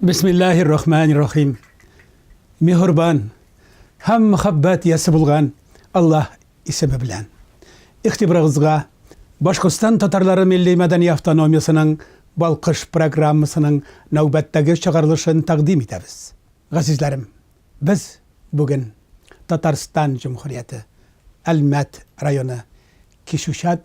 Бисмиллахир рахманир рахим. Мехурбан һәм мөхәббәт ясы булган Аллаһ исеме белән. Ихтибарыгызга Башкортстан татарлары милли мәдәни автономиясенең Балкыш программасының нәүбәттәге чыгарылышын тәкъдим итәбез. Газизләрем, без бүген Татарстан Җөмһүрияте Әлмәт районы Кишүшат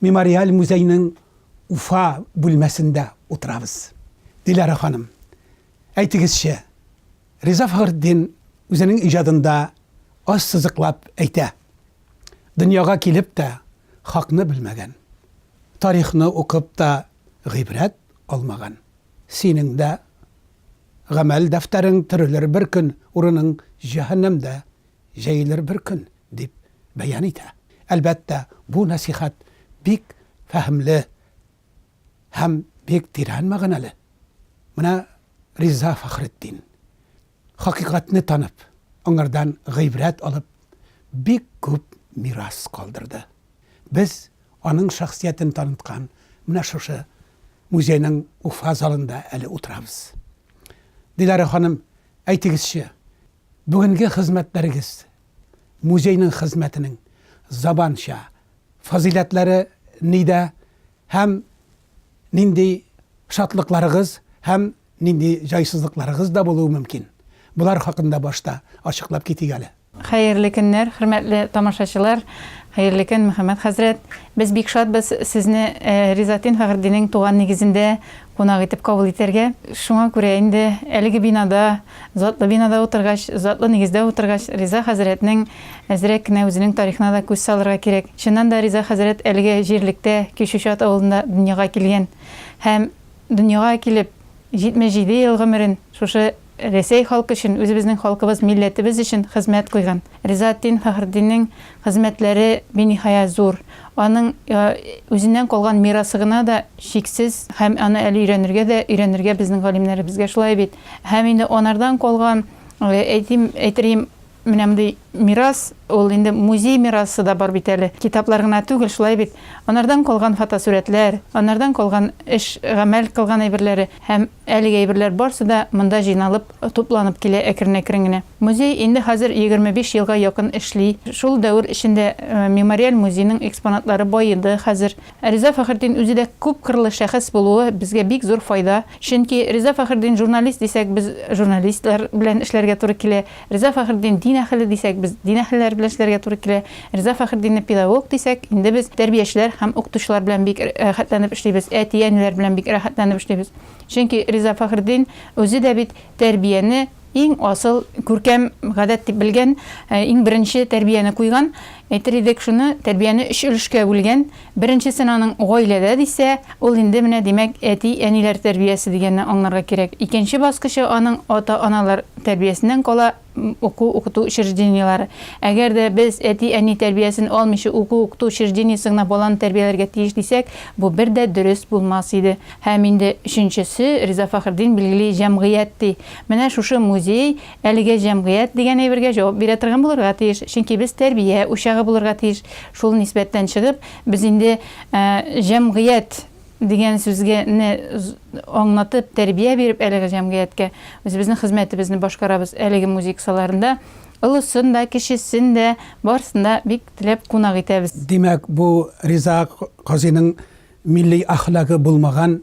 Мемориаль музейның Уфа бүлмәсендә утырабыз. Диләрә ханым, әйтегезче, Риза Фәхретдин үзенең иҗадында аз сызыклап әйтә, дөньяга килеп тә хакны белмәгән, тарихны укып та гыйбрәт алмаган. Синең дә гамәл дәфтәрең төрелер бер көн, урының җәһәннәмдә җәелер бер көн. дип бәян итә. Әлбәттә, бу нәсыйхәт бик фәһемле һәм бик тирән мәгънәле. Менә Риза Фәхретдин, хакыйкатьне танып, аңардан гыйбрәт алып, бик күп мирас калдырды. Без аның шәхсиятен таныткан менә шушы музейның Уфа залында әле утырабыз. Диләрә ханым, әйтегезче, бүгенге хезмәтләрегез музейның хезмәтенең заманча фазыйләтләре нидә һәм нинди шатлыкларыгыз һәм нинди җайсызлыкларыгыз да булуы мөмкин? Болар хакында башта ачыклап китик әле. Хәерле көннәр, хөрмәтле тамашачылар, хәерле көн, Мөхәммәт хәзрәт. Без бик шатбыз Сезне Ризатин Фәхретдинең туган нигезендә кунак итеп кабул итәргә. Шуңа күрә инде әлеге бинада, затлы бинада утыргач, затлы нигездә утыргач, Риза хәзрәтнең әзрәк кенә үзенең тарихына да күз салырга кирәк. Чыннан да Риза хәзрәт әлеге җирлектә, Кече Чат авылында дөньяга килгән һәм дөньяга килеп, 77 ел гомерен шушы Рәсәй халкы өчен, үзебезнең халкыбыз, милләтебез өчен хезмәт куйган. Ризаэтдин Фәхретдиннең хезмәтләре биниһая зур. Аның үзеннән калган мирасы гына да чиксез һәм аны әле өйрәнергә дә өйрәнергә безнең галимнәребезгә, шулай бит? Һәм инде анардан калган, әйтим, әйтерием, Менә мондый мирас, ул инде музей мирасы да бар бит әле. Китаплар гына түгел, шулай бит. Анардан калган фотосурәтләр, анардан калган эш, гамәл кылган әйберләре һәм әлеге әйберләр барсы да монда җыйналып, тупланып килә әкрен-әкрен генә. Музей инде хәзер егерме биш елга якын эшли. Шул дәвер эчендә Мемориаль музейның экспонатлары баеды хәзер. Ә Риза Фәхретдин үзе дә күпкырлы шәхес булуы безгә бик зур файда. Чөнки Риза Фәхретдин журналист дисәк, без журналистлар белән эшләргә туры килә. Риза Фәхретдин дин әһеле дисәк, без дин әһелләре белән эшләргә туры килә. Риза Фәхретдинне педагог дисәк, инде без тәрбиячеләр һәм укытучылар белән бик рәхәтләнеп эшлибез, әти-әниләр белән бик рәхәтләнеп эшлибез. Чөнки Риза Фәхретдин үзе дә бит тәрбияне иң асыл, күркәм гадәт дип белгән, иң беренче тәрбияне куйган, әйтер идек, шуны тәрбияне өч өлешкә бүлгән, Беренчесен аның гаиләдә дисә, ул инде менә, димәк, әти-әниләр тәрбиясе дигәнне аңларга кирәк. Икенче баскычы аның ата-аналар тәрбиясеннән кала, уку-укыту учреждениеләре. Әгәр дә без әти-әни тәрбиясен алмыйча уку-укыту учреждениесе гына баланы тәрбияләргә тиеш дисәк, бу бер дә дөрес булмас иде. Һәм инде өченчесе, Риза Фәхретдин билгели, җәмгыять ди. Менә шушы музей Әлеге җәмгыять дигән әйбергә җавап бирә торган булырга тиеш, чөнки без тәрбия учагы булырга тиеш. Шул нисбәттән чыгып, без инде җәмгыять дигән сүзгә не аңлатып, тәрбия биреп әлеге җәмгыятькә үзебезнең хезмәтебезне башкарабыз. Әлеге музыка саларында олысын да, кечесен дә, барысын да бик теләп кунак итәбез. Димәк, бу Риза казыйның милли әхлагы булмаган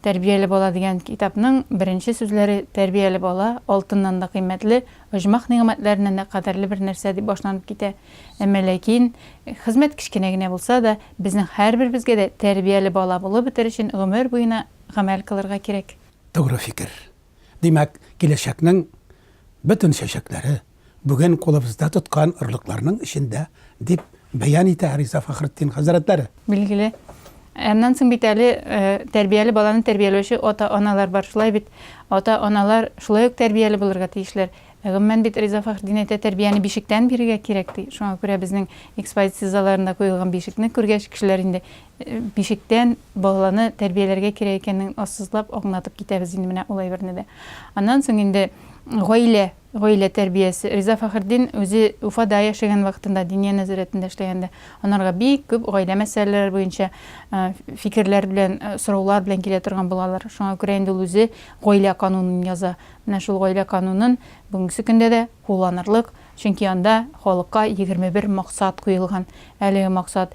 Тәрбияле бала дигән китапның беренче сүзләре Тәрбияле бала, алтыннан да кыйммәтле, оҗмах нигъмәтләреннән дә кадерле бер нәрсә дип башланып китә. Әмма ләкин, хезмәт кечкенә генә булса да, безнең һәрберебезгә дә тәрбияле бала булып бетер өчен гомер буена гамәл кылырга кирәк. Тугры фикер. Димәк, киләчәкнең бөтен чәчәкләре бүген кулыбызда тоткан орлыкларның эчендә, дип бәян итә Риза Фәхретдин хәзрәтләре. Билгеле. Аннан соң бит әле тәрбияле баланы тәрбияләүче ата-аналар бар, шулай бит? Ата-аналар шулай ук тәрбияле булырга тиешләр. Ә гомумән бит Риза Фәхретдин әйтә, тәрбияне бишектән бирергә кирәк, ди. Шуңа күрә безнең экспозиция залларында куелган бишекне күргәч, кешеләр инде Бишектән баланы тәрбияләргә кирәк икәнен ассызлап аңлатып китәбез инде менә ул әйберне дә. Аннан соң инде гаилә, гаилә тәрбиясе. Риза Фәхретдин үзе Уфада яшәгән вакытында, Диния нәзарәтендә эшләгәндә, анарга бик күп гаилә мәсьәләләре буенча фикерләр белән, сораулар белән килә торган булалар. Шуңа күрә инде ул үзе гаилә канунын яза. Менә шул гаилә канунын бүгенге көндә дә кулланырлык, чөнки анда халыкка егерме бер максат куелган. Әлеге максат,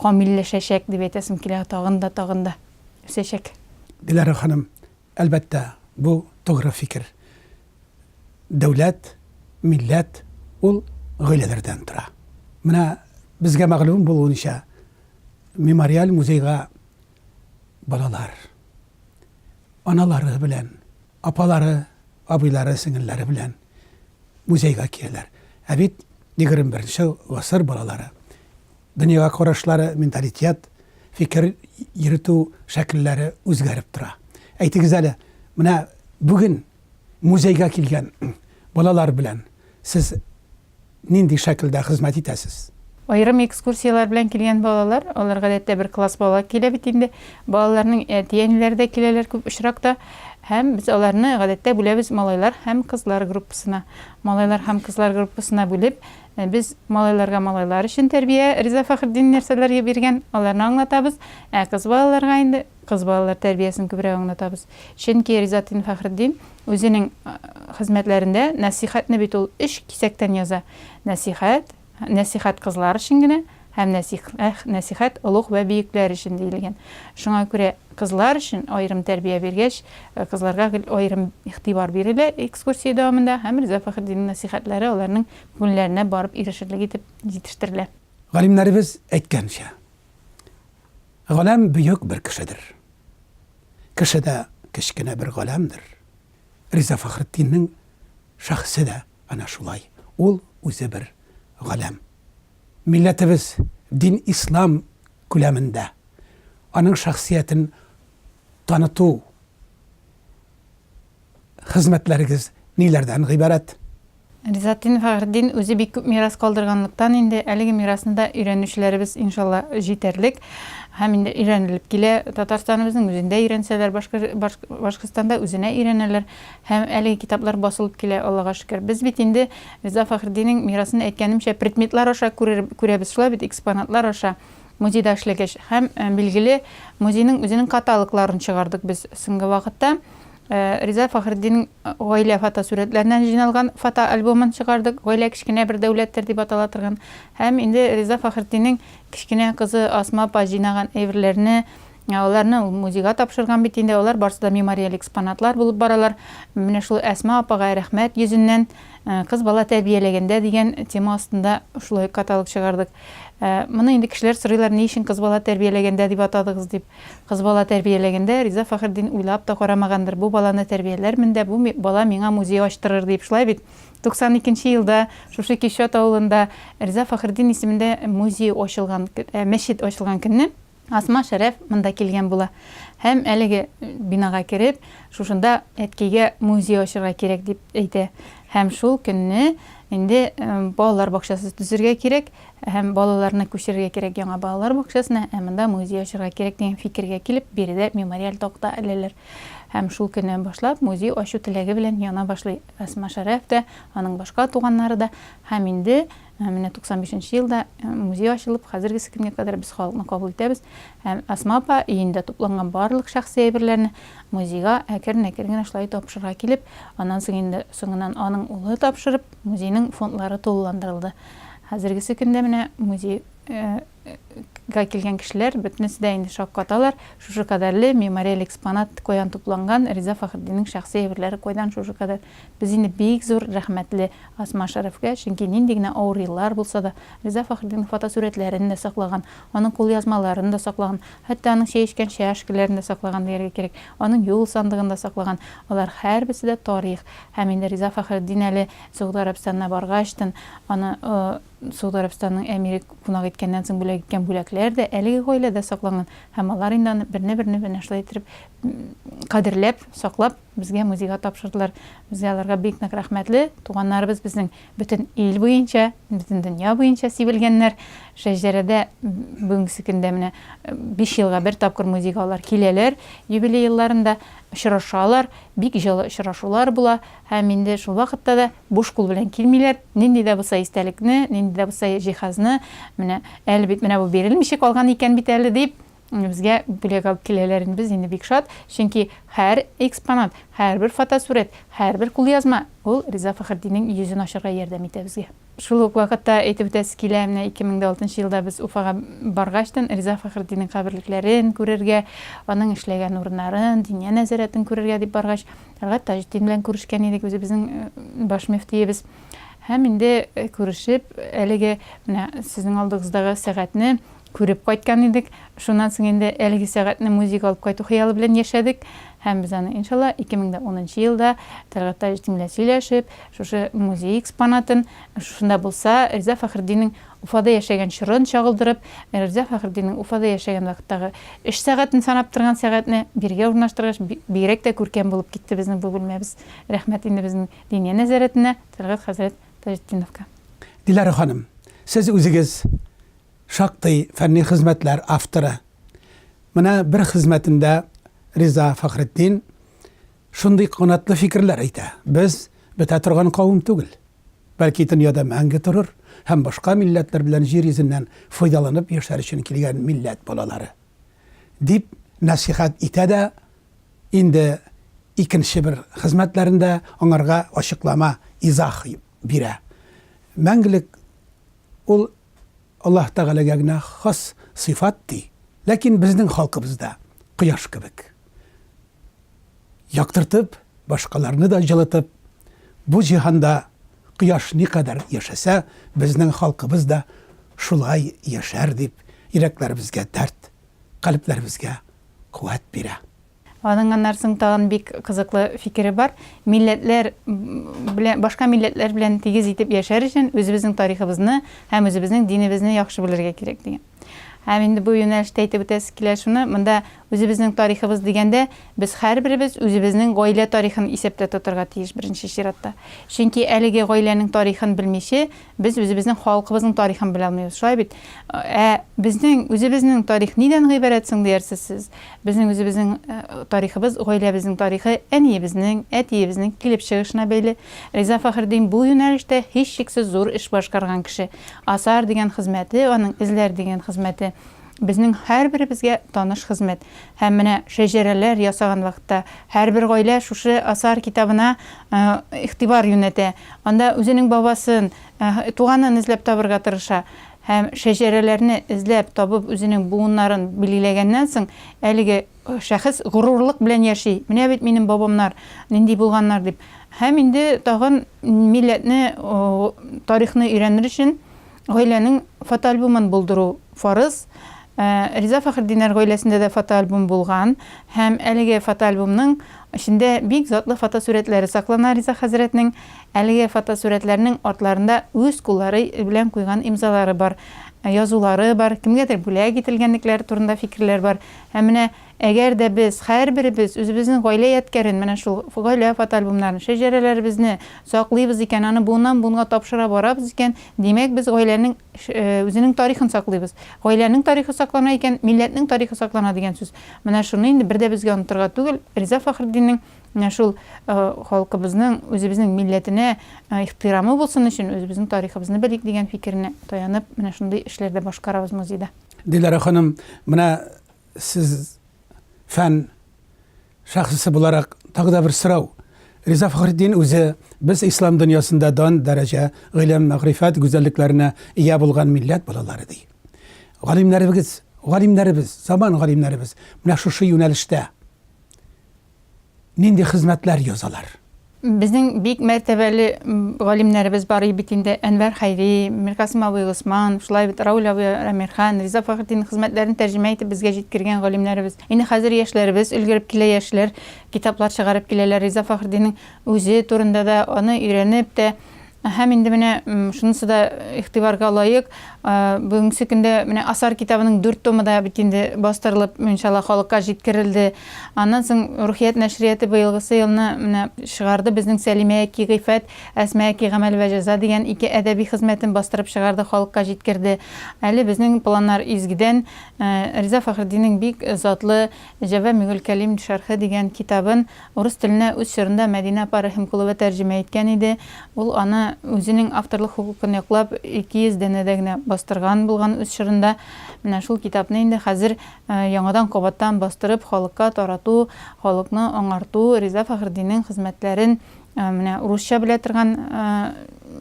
Камилләшәчәк, дип әйтәсем килә, тагын да, тагын да үсәчәк. Диләрә ханым, әлбәттә, бу тугры фикер. Дәүләт, милләт ул гаиләләрдән тора. Менә безгә мәгълүм булуынча, мемориаль музейга балалар, аналары белән, апалары, абыйлары, сеңелләре белән музейга киләләр. Ә бит егерме беренче гасыр балалары Дөньяга карашлары, менталитет, фикер йөртү шәкелләре үзгәреп тора. Әйтегез әле, менә бүген музейга килгән балалар белән сез нинди шәкелдә хезмәт итәсез? Аерым экскурсияләр белән килгән балалар, алар гадәттә бер класс бала килә бит инде. Балаларның әти-әниләре дә киләләр күп очракта. Һәм без аларны гадәттә бүләбез малайлар һәм кызлар группасына. Малайлар һәм кызлар группасына бүлеп, Ә без малайларга малайлар өчен тәрбия, Риза Фәхретдин нәрсәләргә биргән, аларны аңлатабыз, ә кыз балаларга инде кыз балалар тәрбиясен күбрәк аңлатабыз. Чөнки Ризатдин Фәхретдин үзенең хезмәтләрендә нәсыйхәтне бит ул өч кисәктән яза, нәсыйхәт, нәсыйхәт кызлар өчен генә һәм нәсыйх, нәсыйхәт олуг вә биекләр өчен диелгән. Шуңа күрә кызлар өчен аерым тәрбия биргәч, кызларга гел аерым игътибар бирелә экскурсия дәвамында һәм Риза Фәхретдиннең нәсыйхәтләре аларның күңелләренә барып ирешерлек итеп җитештерелә. Галимнәребез әйткәнчә, галәм бөек бер кешедер. Кеше дә кечкенә бер галәмдер. Риза Фәхретдиннең шәхесе дә әнә шулай, ул үзе бер галәм. Милләтебез, дин ислам күләмендә, аның шәхсиятен таныту, хезмәтләрегез ниләрдән гыйбарәт? Ризатдин Фәхретдин үзе бик күп мирас калдырганлыктан инде әлеге мирасны да өйрәнүчеләребез иншалла җитәрлек һәм инде өйрәнелеп килә. Татарстаныбызның үзендә өйрәнсәләр, Башкортстанда үзенә өйрәнәләр һәм әлеге китаплар басылып килә, Аллага шөкер. Без бит инде Риза Фәхретдиннең мирасын, әйткәнемчә, предметлар аша күрәбез, шулай бит, экспонатлар аша. Музейда эшләгәч һәм, билгеле, музейның үзенең каталогларын чыгардык без соңгы вакытта. Риза Фәхретдиннең гаилә фотосурәтләреннән җыйналган фотоальбомын чыгардык, Гаилә кечкенә бер дәүләттер дип атала торган. Һәм инде Риза Фәхретдиннең кечкенә кызы Асма апа җыйнаган әйберләрне, Ә аларны ул музейга тапшырган бит инде, алар барсы да мемориаль экспонатлар булып баралар. Менә шулай Әсма апага рәхмәт йөзеннән, Кыз бала тәрбияләгәндә дигән тема астында шулай каталог чыгардык. Моны инде кешеләр сорыйлар, ни өчен Кыз бала тәрбияләгәндә дип атадыгыз дип. Кыз бала тәрбияләгәндә Риза Фәхретдин уйлап та карамагандыр, бу баланы тәрбияләрмен дә, бу бала миңа музей ачтырыр дип, шулай бит? 92 елда шушы Кишот авылында Риза Фәхретдин исемендә музей ачылган, мәчет ачылган көнне, Асма Шәрәф монда килгән була һәм әлеге бинага кереп, шушында әткәйгә музей ачырга кирәк дип әйтә һәм шул көнне инде балалар бакчасы төзергә кирәк һәм балаларны күчерергә кирәк яңа балалар бакчасына, ә монда музей ачырга кирәк дигән фикергә килеп, биредә мемориаль такта эләләр. Һәм шул көннән башлап музей ачу теләге белән яна башлый Асма Шәрәф тә, аның башка туганнары да һәм инде Ә менә 95 нче елда музей ачылып, хәзергесе көнгә кадәр без халыкны кабул итәбез һәм Әсма апа өендә тупланган барлык шәхси әйберләрне музейга әкрен-әкрен генә шулай тапшырырга килеп, аннан соң инде соңыннан аның улы тапшырып, музейның фондлары тулыландырылды. Хәзергесе көндә менә музей га килгән кешеләр бөтенесе дә инде шаккаталар, шушы кадәрле мемориаль экспонат каян тупланган, Риза Фәхретдиннең шәхси әйберләре кайдан шушы кадәр? Без инде бик зур рәхмәтле Асма Шәрәфкә, чөнки нинди генә авыр еллар булса да, Риза Фәхретдиннең фотосурәтләрен дә саклаган, аның кулъязмаларын да саклаган, хәтта аның чәй эчкән чәшкәләрен дә саклаган дияргә кирәк, аның юл сандыгын да саклаган. Алар һәрберсе дә тарих. Һәм инде Риза Фәхретдин әле Согуд Гарәбстанына баргач тын, аны Согуд Арабстанының әмире кунак иткәннән соң бүләк иткән бүләкләр дә әлеге гаиләдә сакланган һәм алар инде аны берне-берне менә шулай иттереп кадерләп, саклап, безгә музейга тапшырдылар. Без аларга бик нык рәхмәтле. Туганнарыбыз безнең бөтен ил буенча, бөтен дөнья буенча сибелгәннәр. Шәҗәрәдә бүгенгесе көндә менә биш елга бер тапкыр музейга алар киләләр, юбилей елларында очрашалар, бик җылы очрашулар була. Һәм инде шул вакытта да буш кул белән килмиләр, нинди дә булса истәлекне, нинди дә булса җиһазны, менә әле бит менә бу бирелмичә калган икән бит әле дип, безгә бүләк алып киләләр инде без инде бик шат, чөнки һәр экспонат, һәрбер фотосурәт, һәрбер кулъязма ул Риза Фәхретдиннең йөзен ачарга ярдәм итә безгә. Шул ук вакытта әйтеп үтәсе килә, менә 2006 елда без Уфага баргачтын, Риза Фәхретдиннең каберлекләрен күрергә, аның эшләгән урыннарын, Диния нәзарәтен күрергә дип баргач, Тәлгать Таҗетдин белән күрешкән идек, үзебезнең баш мөфтиебез. Һәм инде күрешеп, әлеге менә сезнең алдыгыздагы сәгатьне Күреп кайткан идек. Шуннан соң инде әлеге сәгатьне музейга алып кайту хыялы белән яшәдек. Һәм без аны, иншалла, 2010 нчы елда Тәлгать Таҗетдин белән сөйләшеп, шушы музей экспонатын, шушында булса, Риза Фәхретдиннең Уфада яшәгән чорын чагылдырып, Риза Фәхретдиннең Уфада яшәгән вакыттагы эш сәгатен санап торган сәгатьне биргә урнаштыргач, бигрәк тә күркәм булып китте безнең бу бүлмәбез. Рәхмәт инде безнең Диния нәзарәтенә, Тәлгать хәзрәт Таҗетдиновка. Диләрә ханым, сез үзегез Шактый фәнни хезмәтләр авторы. Менә бер хезмәтендә Риза Фәхретдин шундый канатлы фикерләр әйтә, Без бетә торган кавым түгел. Бәлки дөньяда мәңге торыр һәм башка милләтләр белән җир йөзеннән файдаланып яшәр өчен килгән милләт балалары. Дип нәсыйхәт итә дә инде икенче бер хезмәтләрендә аңарга ачыклама, изах бирә. Мәңгелек ул Аллаһ Тәгаләгә генә хас сыйфат, ди. Ләкин безнең халкыбыз да, кояш кебек, яктыртып, башкаларны да җылытып, бу җиһанда кояш никадәр яшәсә, безнең халкыбыз да шулай яшәр, дип, йөрәкләребезгә дәрт, калебләребезгә куәт бирә. Аның аннан соң тагын бик кызыклы фикере бар. Милләтләр белән, башка милләтләр белән тигез итеп яшәр өчен үзебезнең тарихыбызны һәм үзебезнең динебезне яхшы белергә кирәк дигән. Һәм инде бу юнәлештә әйтеп үтәсе килә шуны, монда үзебезнең тарихыбыз дигәндә, без һәрберебез үзебезнең гаилә тарихын исәптә тотарга тиеш беренче чиратта. Чөнки әлеге гаиләнең тарихын белмиче, Без үзебезнең халкыбызның тарихын белә алмыйбыз, шулай бит? Ә безнең үзебезнең тарих нидән гыйбарәт соң, диярсез сез. Безнең үзебезнең тарихыбыз гаиләбезнең тарихы, әниебезнең, әтиебезнең килеп чыгышына бәйле. Риза Фәхретдин бу юнәлештә һичшиксез зур эш башкарган кеше. Асар дигән хезмәте аның, эзләр дигән хезмәте, Безнең һәрберебезгә таныш хезмәт. Һәм менә шәҗәрәләр ясаган вакытта, һәрбер гаилә шушы Асар китабына игътибар юнәтә. Анда үзенең бабасын, туганын эзләп табырга тырыша. Һәм шәҗәрәләрне эзләп табып үзенең буыннарын билгеләгәннән соң, әлеге шәхес горурлык белән яши, менә бит минем бабамнар нинди булганнар дип. Һәм инде тагын милләтне, тарихны өйрәнер өчен, Гаиләнең фотоальбомын булдыру фарыз. Риза Фәхретдиннәр гаиләсендә дә фотоальбом булган һәм әлеге фотоальбомның эчендә бик затлы фотосурәтләре саклана Риза хәзрәтнең. Әлеге фотосурәтләрнең артларында үз куллары белән куйган имзалары бар, язулары бар, кемгәдер бүләк ителгәнлекләре турында фикерләр бар һәм менә Әгәр дә без һәрберебез үзебезнең гаилә ядкәрен, менә шул гаилә фотоальбомнарын, шәҗәрәләребезне саклыйбыз икән, аны буыннан-буынга тапшыра барабыз икән, димәк, без гаиләнең үзенең тарихын саклыйбыз. Гаиләнең тарихы саклана икән, милләтнең тарихы саклана дигән сүз. Менә шуны инде бер дә безгә онытырга түгел, Риза Фәхретдиннең менә шул халкыбызның, үзебезнең милләтенә ихтирамы булсын өчен, үзебезнең тарихыбызны белик дигән фикеренә таянып, менә шундый эшләр дә башкарабыз музейда. Диләрә ханым, менә Сез фән шәхесе буларак тагы да бер сорау. Риза Фәхретдин үзе без ислам дөньясында дан дәрәҗә, гыйлем, мәгърифәт гүзәллекләренә ия булган милләт балалары ди. Галимнәребез, галимнәребез, заман галимнәребез менә шушы юнәлештә. Нинди хезмәтләр язалар? Безнең бик мәртәбәле галимнәребез бар и бит инде, Әнвәр Хәйри, Миркасыйм абый Госман, шулай бит Рауль абый Әмирхан, Риза Фәхретдиннең хезмәтләрен тәрҗемә итеп безгә җиткергән галимнәребез. Инде хәзер яшьләребез өлгереп килә, яшьләр китаплар чыгарып киләләр, Риза Фәхретдиннең үзе турында да, аны өйрәнеп тә, Һәм инде менә шунысы да игътибарга лаек, бүгенге көндә менә Асар китабының дүрт томы да бит инде бастырылып, иншалла, халыкка җиткерелде. Аннан соң Рухият нәшрияты быелгысы елны менә чыгарды, безнең Сәлимәәки гыйффәт, Әсмәәки гамәл вә җәза дигән ике әдәби хезмәтен бастырып чыгарды, халыкка җиткерде. Әле безнең планнар изгедән Риза Фәхретдиннең бик затлы Җәвамигуль кәлим шәрхе дигән китабын Урыс теленә үз чорында Мәдинә апа Рәхимкулова тәрҗемә иткән иде. Ул аны үзенең авторлык хокукын яклап, 200 данәдә генә бастырган булган үз чорында. Менә шул китапны инде хәзер яңадан-кабаттан бастырып, халыкка тарату, халыкны аңарту, Риза Фәхретдиннең хезмәтләрен менә урысча белә торган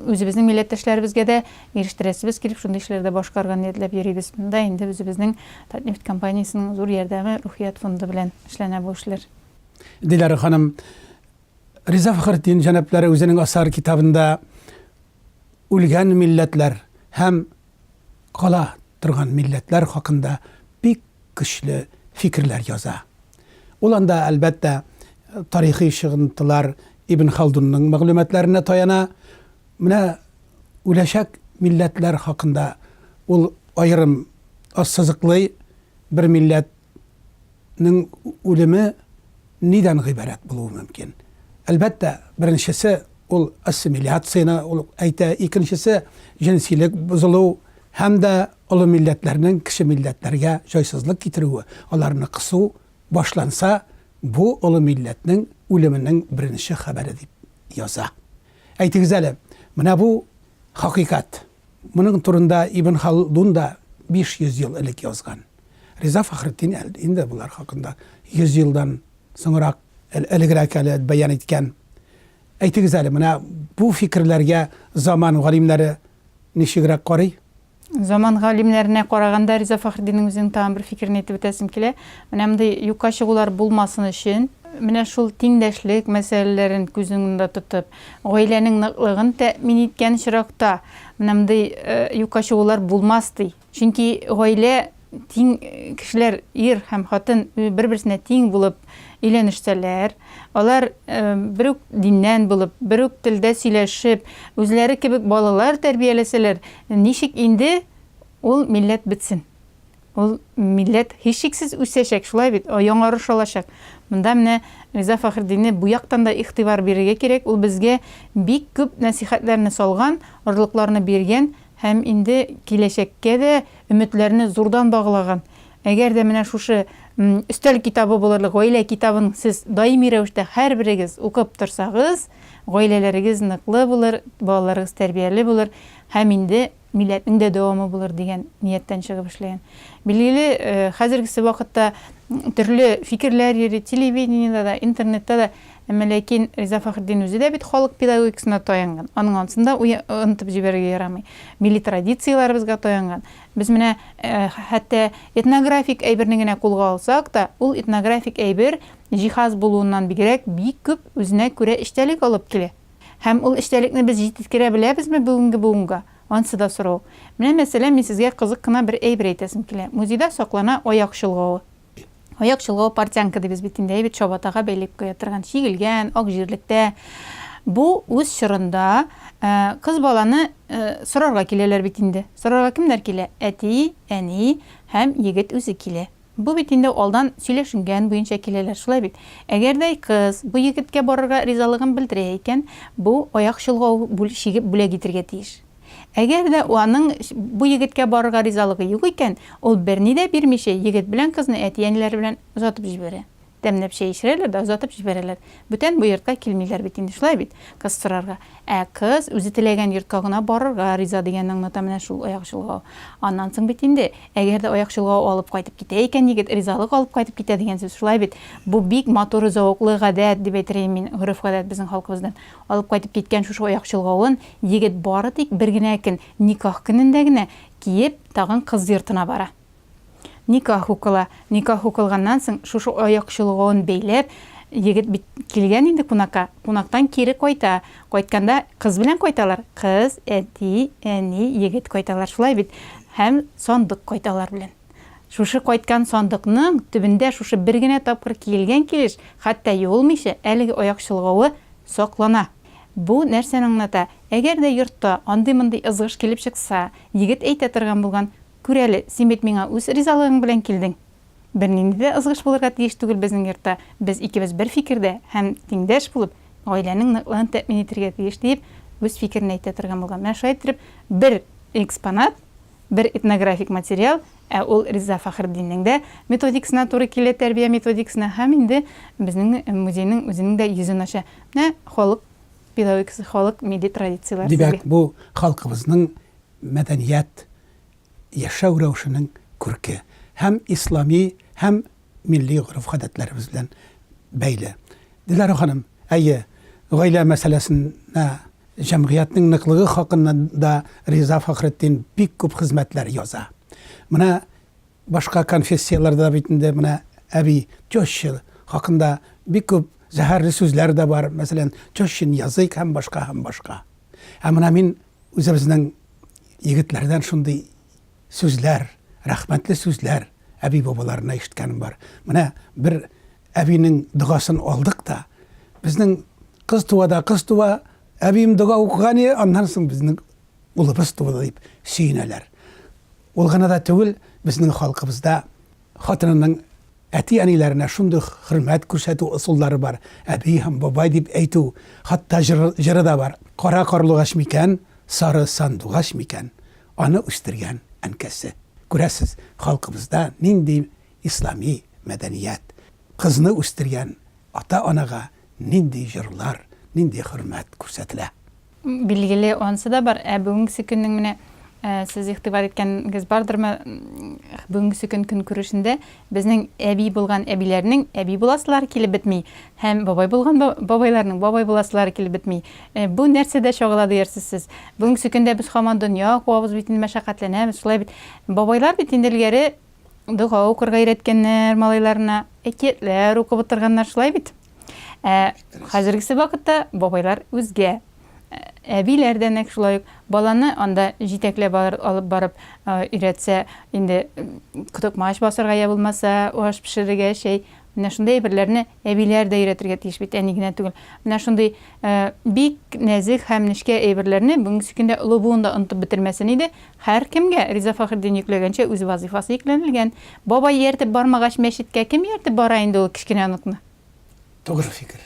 үзебезнең милләттәшләребезгә дә ирештерәсебез килеп, шундый эшләр дә башкарырга ниятләп йөрибез. Монда инде үзебезнең Татнефть компаниясенең зур ярдәме, Рухият фонды белән эшләнә бу эшләр. Диләр ханым, Риза Фәхретдин җәнаплары үзенең асар китабында үлгән милләтләр һәм кала торган милләтләр хакында бик көчле фикерләр яза. Ул анда, әлбәттә, тарихи чыгынтылар Ибн Халдунның мәгълүматларына таяна. Менә үләчәк милләтләр хакында ул аерым ассызыклый бер милләт ның үлеме нидән гыйбарәт булуы мөмкин? Әлбәттә, беренчесе, ул ассимиляцияне ул әйтә, икенчесе, җенсилек бозылу һәм дә олы милләтләрнең кече милләтләргә җайсызлык китерүе, аларны кысу башланса, бу олы милләтнең үлеменең беренче хәбәре дип яза. Әйтегез әле, менә бу хакыйкать. Моның турында Ибн Халдун да 500 ел элек язган. Риза Фәхретдин әле инде болар хакында 100 елдан соңрак элегрәк әле бәян иткән. Әйтегез әле, менә бу фикерләргә заман галимнәре ничегрәк карый? Заман галимнәренә караганда Риза Фәхреддиннең үзенең тагын бер фикерен әйтеп үтәсем килә. Менә мондый юкка чыгулар булмасын өчен, менә шул тиңдәшлек мәсьәләләрен күз уңында тотып, Гаиләнең ныклыгын тәэмин иткән очракта, мондый юкка чыгулар булмас, ди. Чөнки гаилә тиң кешеләр, ир һәм хатын бер-берсенә тиң булып өйләнешсәләр, алар бер үк диннән булып, бер үк телдә сөйләшеп, үзләре кебек балалар тәрбияләсәләр, ничек инде ул милләт бетсен? Ул милләт һичшиксез үсәчәк, шулай бит, яңарыш алачак. Монда менә Риза Фәхретдинне бу яктан да игътибар бирергә кирәк, ул безгә бик күп нәсыйхәтләрне салган, орлыкларны биргән һәм инде киләчәккә дә өметләрне зурдан баглаган. Әгәр дә менә шушы Өстәл китабы булырлык Гаилә китабын сез даими рәвештә һәрберегез укып торсагыз, гаиләләрегез ныклы булыр, балаларыгыз тәрбияле булыр һәм инде милләтнең дә дәвамы булыр дигән нияттән чыгып эшләгән. Билгеле, хәзергесе вакытта төрле фикерләр йөри, телевидениедә дә, интернетта да, әмма ләкин Риза Фәхретдин үзе дә бит халык педагогикасына таянган, аның ансын да онытып җибәрергә ярамый. Милли традицияләребезгә таянган. Без менә хәтта этнографик әйберне генә кулга алсак та, ул этнографик әйбер җиһаз булуыннан бигрәк бик күп үзенә күрә эчтәлек алып килә. Һәм ул эчтәлекне без җитеткерә беләбезме бүгенге буынга? Ансы да сорау. Менә, мәсәлән, мин сезгә кызык кына бер әйбер әйтәсем килә. Музейда саклана аяк чолгавы. Аяк чолгавы портянка дибез бит инде, әйбер чабатага бәйләп куя торган, чигелгән, ак җирлектә. Бу үз чорында кыз баланы сорарга киләләр бит инде. Сорарга кемнәр килә? Әти, әни һәм егет үзе килә. Бу бит инде алдан сөйләшенгән буенча киләләр, шулай бит? Әгәрдәй кыз бу егеткә барырга ризалыгын белдерә икән, бу аяк чолгау бүл чигеп бүләк итергә тиеш. Әгәр дә аның бу егеткә барырга ризалыгы юк икән, ул берни дә бирмичә егет белән кызны әти-әниләре белән озатып җибәрә. Тәмләп чәй эчерәләр дә озатып җибәрәләр. Бүтән бу йортка килмиләр бит инде, шулай бит? Кыз сорарга. Ә кыз үзе теләгән йортка гына барырга риза дигәнне аңлата менә шул аяк чолгау. Аннан соң бит инде, әгәр дә аяк чолгау алып кайтып китә икән егет, ризалык алып кайтып китә дигән сүз, шулай бит? Бу бик матур, зәвыклы гадәт, дип әйтер идем мин, гореф-гадәт безнең халкыбыздан. Алып кайтып киткән шушы аяк чолгавын егет бары тик бер генә көн, никах көнендә генә киеп, тагын кыз йортына бара. Никах укыла. Никах укылганнан соң, шушы аяк чолгавын бәйләп, егет бит килгән инде кунакка, кунактан кире кайта. Кайтканда кыз белән кайталар. Кыз, әти, әни, егет кайталар. Шулай бит? Һәм сандык кайта алар белән. Шушы кайткан сандыкның төбендә шушы бер генә тапкыр киелгән килеш, хәтта юылмыйча, әлеге аяк чолгавы саклана. Бу нәрсәне аңлата? Әгәр дә йортта андый-мондый ызгыш килеп чыкса, егет әйтә торган булган, Күр әле, син бит миңа үз ризалыгың белән килдең. Бернинди дә ызгыш булырга тиеш түгел безнең йортта, без икебез бер фикердә һәм тиңдәш булып, гаиләнең ныклыгын тәэмин итәргә тиеш, диеп, үз фикерен әйтә торган булган. Менә шулай иттереп, бер экспонат, бер этнографик материал, ә ул Риза Фәхретдиннең дә методикасына туры килә, тәрбия методикасына, һәм инде безнең музейның үзенең дә йөзен ача. Менә халык педагогикасы, халык милли традицияләр сезгә. Димәк, бу халкыбызның мәдәният, яшәү рәвешенең күрке һәм ислами һәм милли гореф-гадәтләребез белән бәйле. Диләрә ханым, әйе, гаилә мәсьәләсенә җәмгыятьнең ныклыгы хакында да Риза Фәхретдин бик күп хезмәтләр яза. Менә башка конфессияләрдә бит инде менә әби, теща хакында бик күп зәһәрле сүзләр дә бар, мәсәлән, тещин язык һәм башка һәм башка. Ә менә мин Үзебезнең егетләрдән шундый сүзләр, рәхмәтле сүзләр әби-бабаларына ишеткәнем бар. Менә бер әбинең догасын алдык та, безнең кыз туа да кыз туа, әбием дога укыган иде, аннан соң безнең улыбыз туды дип сөенәләр. Ул гына да түгел, безнең халкыбызда Хатынының әти-әниләренә шундый хөрмәт күрсәтү ысуллары бар, әби һәм бабай дип әйтү, хатта җыры да бар. Кара карлугач микән, сары сандугач микән, аны үстергән әнкәсе. Күрәсез, халкыбызда нинди ислами мәдәният, кызны үстергән ата-анага нинди җырлар, нинди хөрмәт күрсәтелә. Билгеле, ансы да бар. Ә бүгенгесе көннең менә сез игътибар иткәнгез бардырмы, бүгенгесе көн көнкүрешендә безнең әби булган әбиләрнең әби буласылары килеп бетми һәм бабай булган бабайларның бабай буласылары килеп бетми. Бу нәрсәдә чагыла диярсез сез? Бүгенгесе көндә без һаман дөнья куабыз бит инде, мәшәкатьләнәбез, шулай бит. Бабайлар бит инде элгәре Дога укырга өйрәткәннәр малайларына, әкиятләр укып утырганнар, шулай бит? Ә хәзергесе вакытта бабайлар үзгә. Әбиләр дә нәк шулай ук баланы анда җитәкләп алып барып өйрәтсә, инде котыкмач басарга я булмаса аш пешерергә, чәй Менә шундый әйберләрне әбиләр дә өйрәтергә тиеш бит, әни генә түгел. Менә шундый бик нәзек һәм нечкә әйберләрне бүгенге көндә олы буын да онытып бетермәсен иде. Һәркемгә, Риза Фәхретдин йөкләгәнчә, үз вазыйфасы йөкләнелгән. Бабай ияртеп бармагач, мәчеткә кем ияртеп бара инде ул кечкенә оныкны? Тугры фикер.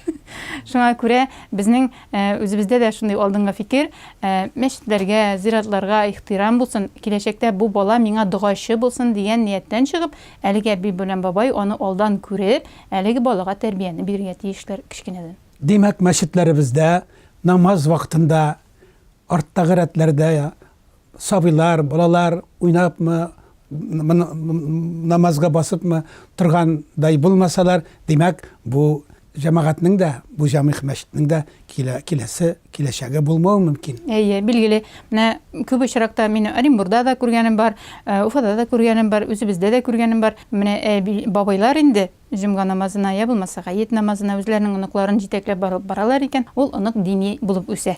Шуңа күрә безнең үзебездә дә шундый алдынгы фикер, мәчетләргә, зиратларга ихтирам булсын, киләчәктә бу бала миңа догачы булсын дигән нияттән чыгып, Әлеге әби белән бабай аны алдан күреп, әлеге балага тәрбияне бирергә тиешләр кечкенәдән. Димәк, мәчетләребездә намаз вакытында арттагы рәтләрдә сабыйлар, балалар уйнапмы, намазга басыпмы торгандай булмасалар, димәк, бу Җәмәгатьнең дә, бу җәмигъ мәчетнең дә килә, киләсе, киләчәге булмавы мөмкин. Әйе, билгеле. Менә күп очракта мин Оренбурда да күргәнем бар, Уфада да күргәнем бар, үзебездә дә күргәнем бар. Менә әби, бабайлар инде җомга намазына, я булмаса, гает намазына үзләренең оныкларын җитәкләп барып баралар икән, ул онык дини булып үсә.